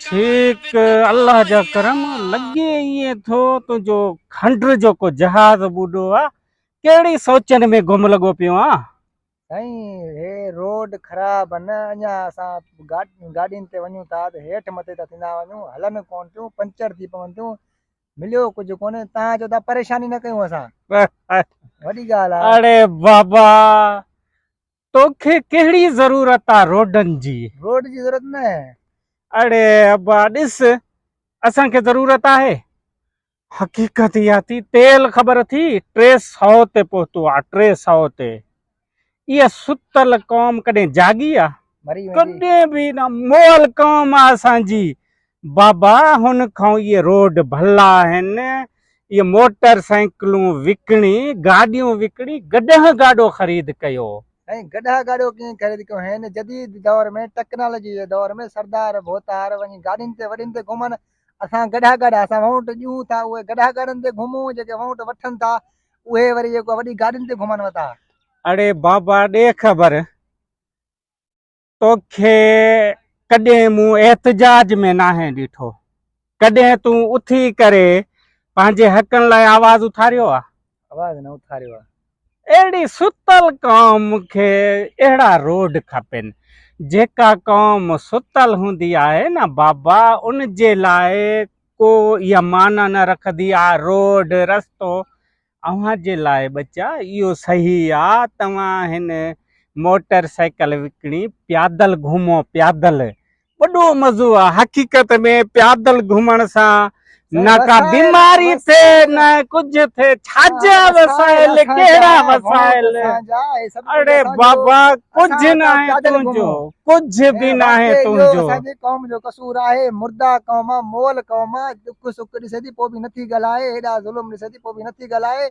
ڇيڪ الله جا ڪرم لڳي ائين ٿو تنهنجو کنڊر جو ڪو جهاز ٻڏو آ ڪهڙي سوچن ۾ گم لڳو پيو آن. سائين هي روڊ خراب ان اڃا اسان گاڏين تي وڃون ٿا ته هيٺ مٿي ٿا ٿيندا وڃون هلن ڪون ٿيون پنچر ٿي پون ٿيون مليو ڪجهه ڪونهي تان جو ته پريشاني نه ڪيون اسان وڏي ڳالهه آ اڙي بابا توکي ڪهڙي ضرورت آ روڊن جي روڊ جي ضرورت نه اڙي ابا ڏس اسان کي ضرورت آهي حقيقت اها ٿي تيل خبر ٿي ٽي سو تي پهتو آ ٽي سو تي اها ستل قوم ڪڏهن جاڳي آ؟ ڪڏهن به نه مئل قوم آ اسان جي. بابا هن کان اهي روڊ ڀلا آهن، اهي موٽر سائيڪلون وڪڻي، گاڏيون وڪڻي گڏهه گاڏو خريد ڪيو. سائين گڏهه گاڏو ڪئين خريد ڪيو؟ هن جديد دور ۾ ٽيڪنالاجي جي دور ۾ سردار ڀوتار وڃي گاڏين تي وڏين تي گهمن اسان گڏها گاڏا اسان وهونٽ ڏيون ٿا اهي گڏها گاڏن تي گهمون جيڪي وهونٽ وٺن ٿا اهي وري جيڪو وڏي گاڏين تي گهمن وتا اڙي بابا ڏي خبر توکي ڪڏهن مون احتجاج ۾ ناهي ڏٺو ڪڏهن تون اٿي ڪري پنهنجي حقن لاء آواز اٿاريو آ آواز نه اٿاريو آ. اهڙي ستل قوم کي اهڙا روڊ کپين. جيڪا قوم ستل هوندي آهي نه بابا ان جي لاء ڪو اها معنيٰ نه رکندي آ روڊ رستو. اوهان جي لاء ٻچا اهو صحيح آ توهان هن موٽر سائيڪل وڪڻي پيادل گهمو پيادل وڏو مزو آ حقيقت ۾ پيادل گهمڻ سان نه ڪا بيماري ٿي نه ڪجهه ٿي ڇاجا وسائل ڪهڙا وسائل اڙي بابا ڪجهه نه آهي تنهنجو ڪجهه به نه آهي تنهنجو اسان جي قوم جو قصور آهي مردا قوم مول قوم دک سک ڏسي ٿي پوء به نه ٿي ڳالهائي هيڏا ظلم ڏسي ٿي پوء به نه ٿي ڳالهائي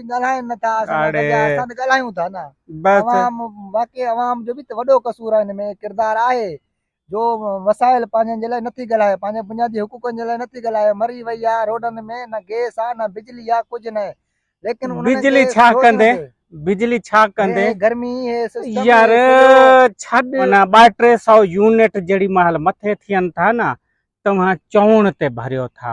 ڳالهائين نه ٿا اسان سان گڏ اسان ته ڳالهايون ٿا نه بس عوام واقعي عوام جو به ته وڏو قصور آهي ان ۾ ڪردار آهي جو وسائل پنهنجن جي لاء نٿي ڳالهائي پنهنجي بنيادي حقوقن جي لاء نٿي ڳالهائي مري وئي آهي روڊن ۾ نه گيس آهي نه بجلي آهي ڪجهه نه ليڪن بجلي ڇا ڪندي بجلي ڇا ڪندي گرمي يار ڇڏ نه 2300 يونٽ جڙي محل مٿي ٿين ٿا نه توهان چوڻ تي ڀريو ٿا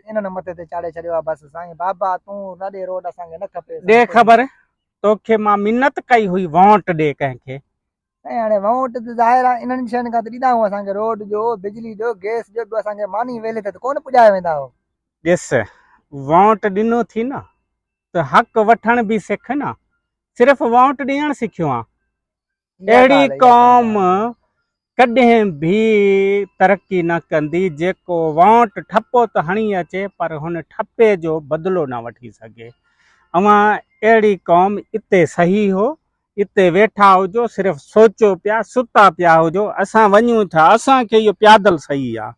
انهن نه مٿي تي چاڙهي ڇڏيو آ بس سائين بابا تون رڏي روڊ اسان کي نه کپي ڏي خبر توکي مان منت ڪئي هئي وونٽ ڏي ڪنهن کي. سائين هاڻي وونٽ ته ظاهر آ انهن شين کان ته ڏيندا هئون اسان کي روڊ جو بجلي جو گيس جو ٻيو اسان کي ماني ويلي تي ته ڪونه پڄايا ويندا هئا. ڏس وونٽ ڏنو ٿي نه ته حق وٺڻ به سک نه صرف وونٽ ڏيڻ سکيو آ اهڙي قوم ڪڏهن به ترقي نه ڪندي جيڪو وانٽ ٺپو ته هڻي اچي پر هن ٺپي جو بدلو نه وٺي سگهي. اوهان اهڙي قوم اتي صحيح هو اتي ويٺا هجو صرف سوچو پيا ستا پيا هجو اسان وڃون ٿا اسان کي اهو پيادل صحيح آهي.